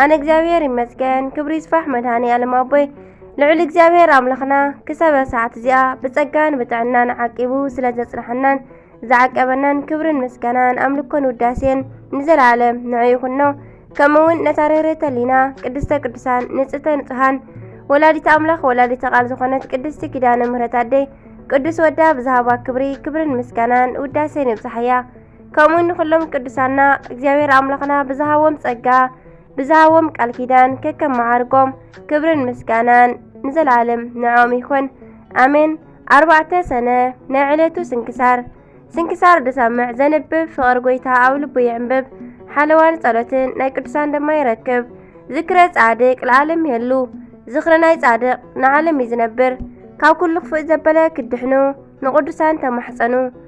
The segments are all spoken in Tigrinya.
ኣነ እግዚኣብሔር ይመስገን ክብሪ ይስፋሕ መድሃኒ ኣለም ኣቦይ ልዑል እግዚኣብሔር ኣምላኽና ክሳብ ሰዓት እዚኣ ብጸጋን ብጥዕናን ዓቂቡ ስለ ዘጽናሓናን ዝዓቀበናን ክብርን ምስጋናን ኣምልኮን ውዳሴን ንዘለዓለም ንዑ ይኹኖ ከምኡውን ነታ ርህርህተ ሊና ቅድስተ ቅዱሳን ንጽተ ንጹሃን ወላዲት ኣምላኽ ወላዲተ ቃል ዝኾነት ቅድስቲ ኪዳነ ምህረት ኣደይ ቅዱስ ወዳ ብዝሃባ ክብሪ ክብርን ምስጋናን ውዳሴን ይብጽሓያ ከምኡ ንኹሎም ቅዱሳና እግዚኣብሔር ኣምላኽና ብዝሃቦም ጸጋ ብዝሃቦም ቃል ኪዳን ከከም መዓርጎም ክብርን ምስጋናን ንዘለዓለም ንዖም ይኹን ኣሜን። ኣርባዕተ ሰነ ናይ ዕለቱ ስንክሳር ስንክሳር ድሰምዕ ዘንብብ ፍቕሪ ጎይታ ኣብ ልቡ ይዕንብብ ሓለዋን ጸሎትን ናይ ቅዱሳን ድማ ይረክብ ዝክረ ጻድቅ ለዓለም የሉ ዝኽሪ ናይ ጻድቅ ንዓለም እዩ ዝነብር ካብ ኩሉ ክፉእ ዘበለ ክድሕኑ ንቕዱሳን ተማሕጸኑ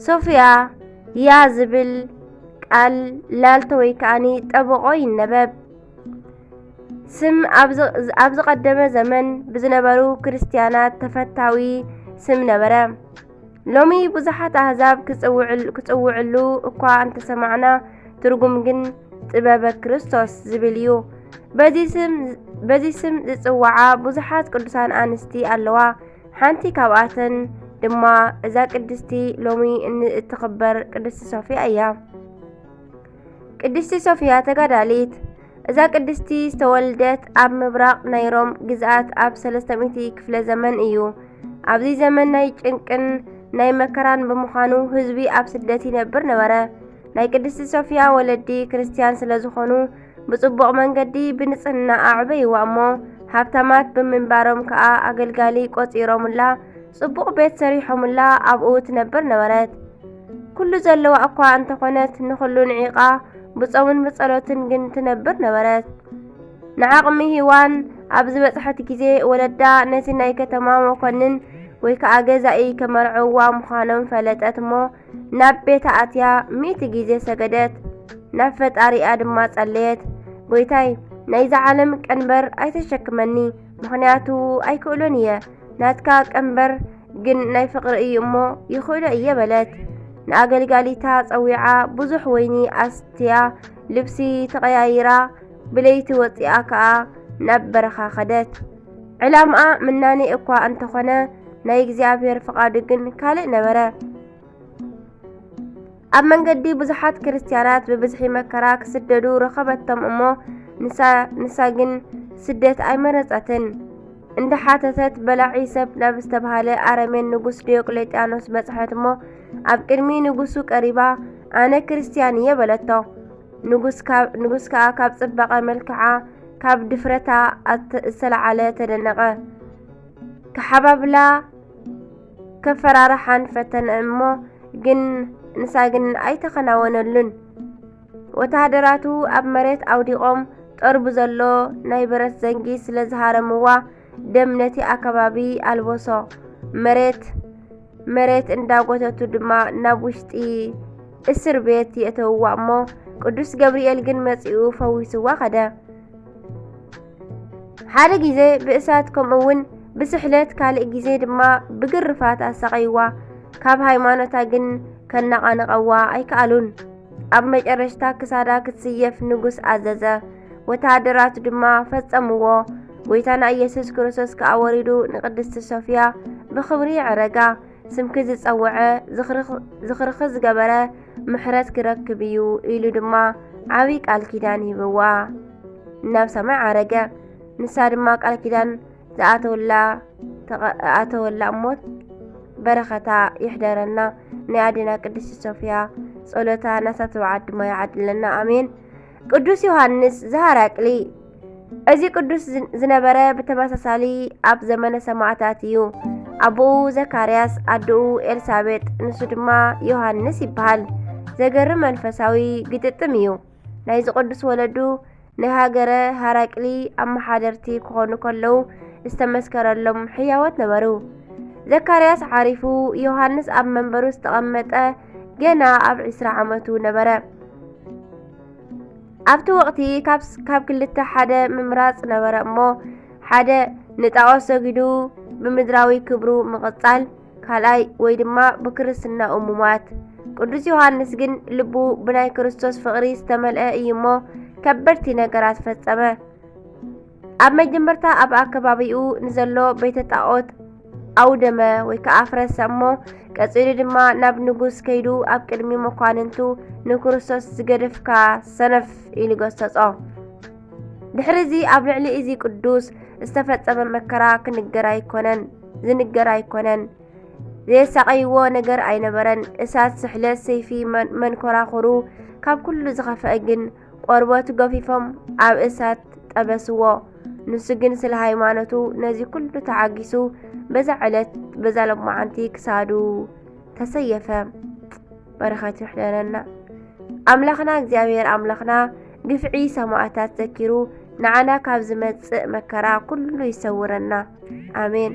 ሶፍያ ያ ዝብል ቃል ላልቶ ወይ ከዓኒ ጠበቆ ይነበብ። ስም ኣብ ዝቐደመ ዘመን ብዝነበሩ ክርስትያናት ተፈታዊ ስም ነበረ። ሎሚ ብዙሓት ኣህዛብ ክጽውዕሉ እኳ እንተሰማዕና ትርጉም ግን ጥበበ ክርስቶስ ዝብል እዩ። በዚ ስም ዝጽውዓ ብዙሓት ቅዱሳን ኣንስቲ ኣለዋ። ሓንቲ ካብኣተን ድማ እዛ ቅድስቲ ሎሚ እትኽበር ቅድስቲ ሶፊያ እያ። ቅድስቲ ሶፊያ ተጋዳሊት እዛ ቅድስቲ ዝተወልደት ኣብ ምብራቕ ናይ ሮም ግዝኣት ኣብ 300 ክፍለ ዘመን እዩ። ኣብዚ ዘመን ናይ ጭንቅን ናይ መከራን ብምዃኑ ህዝቢ ኣብ ስደት ይነብር ነበረ። ናይ ቅድስቲ ሶፊያ ወለዲ ክርስትያን ስለ ዝኾኑ ብጽቡቕ መንገዲ ብንጽህና ኣዕበይዋ እሞ ሃብታማት ብምንባሮም ከኣ ኣገልጋሊ ቆጺሮምላ ጽቡቕ ቤት ሰሪሖምላ ኣብኡ ትነብር ነበረት። ኩሉ ዘለዋ እኳ እንተኾነት ንኹሉ ንዒቓ ብጾምን ብጸሎትን ግን ትነብር ነበረት። ንዓቕሚ ሂዋን ኣብ ዝበጽሐት ግዜ ወለዳ ነቲ ናይ ከተማ መኮንን ወይ ከኣ ገዛኢ ከመርዕዋ ምዃኖም ፈለጠት እሞ ናብ ቤታ ኣትያ ሚእቲ ግዜ ሰገደት፣ ናብ ፈጣሪኣ ድማ ጸለየት። ጐይታይ፣ ናይዛ ዓለም ቀንበር ኣይተሸክመኒ፣ ምኽንያቱ ኣይክእሎን እየ። ናትካ ቀንበር ግን ናይ ፍቕሪ እዩ እሞ ይኽእሎ እየ በለት። ንኣገልጋሊታ ጸዊዓ ብዙሕ ወይኒ ኣስትያ፣ ልብሲ ተቐያይራ ብለይቲ ወጺኣ ከኣ ናብ በረኻ ከደት። ዕላምኣ ምናኔ እኳ እንተኾነ ናይ እግዚኣብሔር ፍቓዱ ግን ካልእ ነበረ። ኣብ መንገዲ ብዙሓት ክርስትያናት ብብዝሒ መከራ ክስደዱ ረኸበቶም እሞ ንሳ ግን ስደት ኣይመረጸትን። እንደ ሓተተት በላዒ ሰብ ናብ ዝተባሃለ ኣረሜን ንጉስ ዲዮቅሌጥያኖስ በጽሐት እሞ ኣብ ቅድሚ ንጉሱ ቀሪባ ኣነ ክርስትያን እየ በለቶ። ንጉስ ከኣ ካብ ጽባቐ መልክዓ ካብ ድፍረታ ዝተለዓለ ተደነቐ። ክሓባብላ ከፈራርሓን ፈተነ እሞ ግን ንሳ ግን ኣይተኸናወነሉን። ወተሃደራቱ ኣብ መሬት ኣውዲቖም ጠርቡ ዘሎ ናይ ብረት ዘንጊ ስለ ዝሃረምዋ ደም ነቲ ኣከባቢ ኣልበሶ። መሬት መሬት እንዳጎተቱ ድማ ናብ ውሽጢ እስር ቤት የእተውዋ እሞ ቅዱስ ገብርኤል ግን መጺኡ ፈዊስዋ ከደ። ሓደ ግዜ ብእሳት ከምኡ እውን ብስሕለት ካልእ ግዜ ድማ ብግርፋት ኣሳቐይዋ። ካብ ሃይማኖታ ግን ከነቓንቐዋ ኣይከኣሉን። ኣብ መጨረሽታ ክሳዳ ክትስየፍ ንጉስ ኣዘዘ። ወተሃደራት ድማ ፈጸምዎ። ጐይታና ኢየሱስ ክርስቶስ ከኣ ወሪዱ ንቅድስቲ ሶፍያ ብኽብሪ ይዕረጋ። ስምኪ ዝጸውዐ ዝኽርኺ ዝገበረ ምሕረት ክረክብ እዩ ኢሉ ድማ ዓብዪ ቃል ኪዳን ሂብዋ ናብ ሰማይ ዓረገ። ንሳ ድማ ቃል ኪዳን ዝኣተወላ ኣተወላ እሞት በረኸታ ይሕደረና። ናይ ኣዴና ቅድስቲ ሶፍያ ጸሎታ ናሳ ተባዓት ድማ ይዓድለና። ኣሜን። ቅዱስ ዮሃንስ ዘሃራቅሊ እዚ ቅዱስ ዝነበረ ብተመሳሳሊ ኣብ ዘመነ ሰማዕታት እዩ። ኣቦኡ ዘካርያስ፣ ኣደኡ ኤልሳቤጥ፣ ንሱ ድማ ዮሃንስ ይበሃል። ዘገርም መንፈሳዊ ግጥጥም እዩ። ናይዚ ቅዱስ ወለዱ ናይ ሃገረ ሃራቅሊ ኣመሓደርቲ ክኾኑ ከለዉ ዝተመስከረሎም ሕያዎት ነበሩ። ዘካርያስ ዓሪፉ ዮሃንስ ኣብ መንበሩ ዝተቐመጠ ገና ኣብ ዕስራ ዓመቱ ነበረ። ኣብቲ ወቕቲ ካብ ክልተ ሓደ ምምራጽ ነበረ እሞ ሓደ ንጣዖት ሰጊዱ ብምድራዊ ክብሩ ምቕጻል፣ ካልኣይ ወይ ድማ ብክርስትናኡ ምሟት። ቅዱስ ዮሃንስ ግን ልቡ ብናይ ክርስቶስ ፍቕሪ ዝተመልአ እዩ እሞ ከበድቲ ነገራት ፈጸመ። ኣብ መጀመርታ ኣብ ኣከባቢኡ ንዘሎ ቤተ ጣዖት ኣውደመ ወይ ከዓ ኣፍረሰ እሞ ቀጺሉ ድማ ናብ ንጉስ ከይዱ ኣብ ቅድሚ መኳንንቱ ንክርስቶስ ዝገደፍካ ሰነፍ ኢሉ ገሰጾ። ድሕሪ እዚ ኣብ ልዕሊ እዚ ቅዱስ ዝተፈጸመ መከራ ክንገር ኣይኮነን ዝንገር ኣይኮነን ዘየሳቀይዎ ነገር ኣይነበረን። እሳት፣ ስሕለት፣ ሰይፊ፣ መንኮራኹሩ ካብ ኩሉ ዝኸፍአ ግን ቆርበቱ ገፊፎም ኣብ እሳት ጠበስዎ። ንሱ ግን ስለ ሃይማኖቱ ነዚ ኩሉ ተዓጊሱ በዛ ዕለት በዛ ሎማዓንቲ ክሳዱ ተሰየፈ። በረኸት ይሕደረና። ኣምላኽና እግዚኣብሔር ኣምላኽና ግፍዒ ሰማእታት ዘኪሩ ንዓና ካብ ዝመጽእ መከራ ኩሉ ይሰውረና። ኣሜን።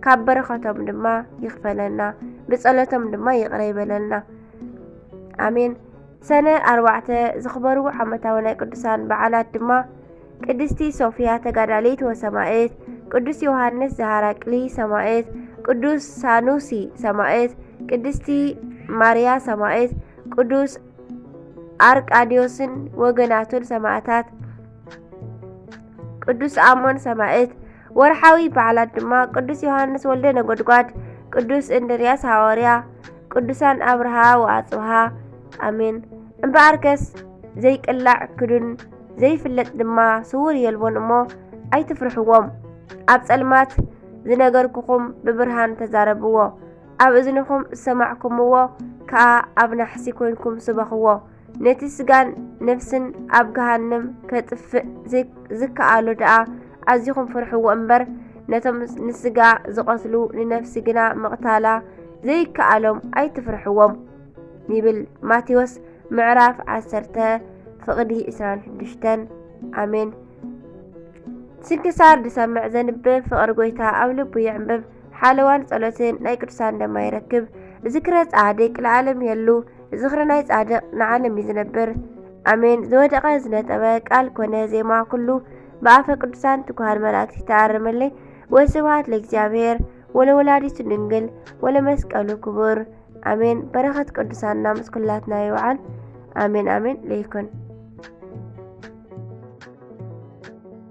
ካብ በረኸቶም ድማ ይኽፈለና፣ ብጸሎቶም ድማ ይቕረ ይበለልና። ኣሜን። ሰነ ኣርባዕተ ዝኽበሩ ዓመታዊ ናይ ቅዱሳን በዓላት ድማ ቅድስቲ ሶፊያ ተጋዳሊት ወሰማእት፣ ቅዱስ ዮሃንስ ዘሃራቅሊ ሰማእት፣ ቅዱስ ሳኑሲ ሰማእት፣ ቅድስቲ ማርያ ሰማእት፣ ቅዱስ ኣርቃዲዮስን ወገናቱን ሰማእታት፣ ቅዱስ ኣሞን ሰማእት፣ ወርሓዊ በዓላት ድማ ቅዱስ ዮሃንስ ወልደ ነጎድጓድ፣ ቅዱስ እንድርያስ ሃዋርያ፣ ቅዱሳን ኣብርሃ ወኣጽብሃ። ኣሜን። እምበኣርከስ ዘይቅላዕ ክዱን ዘይፍለጥ ድማ ስውር የልቦን እሞ ኣይትፍርሕዎም። ኣብ ጸልማት ዝነገርኩኹም ብብርሃን ተዛረብዎ፣ ኣብ እዝንኹም ዝሰማዕኩምዎ ከኣ ኣብ ናሕሲ ኰይንኩም ስበኽዎ። ነቲ ስጋን ነፍስን ኣብ ገሃንም ከጥፍእ ዝከኣሎ ደኣ ኣዚኹም ፍርሕዎ እምበር ነቶም ንስጋ ዝቐትሉ ንነፍሲ ግና ምቕታላ ዘይከኣሎም ኣይትፍርሕዎም ይብል ማቴዎስ ምዕራፍ 10 ፍቕዲ 26 ኣሜን ስንክሳር ድሰምዕ ዘንብብ ፍቕሪ ጎይታ ኣብ ልቡ የዕምብብ ሓለዋን ጸሎትን ናይ ቅዱሳን ደማ ይረክብ። ዝክረ ጻድቅ ለዓለም የሉ ዝክሪ ናይ ጻድቅ ንዓለም እዩ ዝነብር። ኣሜን። ዝወደቀ ዝነጠበ ቃል ኮነ ዜማ ኩሉ ብኣፈ ቅዱሳን ትጉሃን መላእክት ተኣርመለይ። ወስብሐት ለእግዚኣብሔር ወለወላዲቱ ድንግል ወለመስቀሉ ክቡር ኣሜን። በረከት ቅዱሳንና ምስ ኩላትና ይውዓል። ኣሜን ኣሜን ለይኩን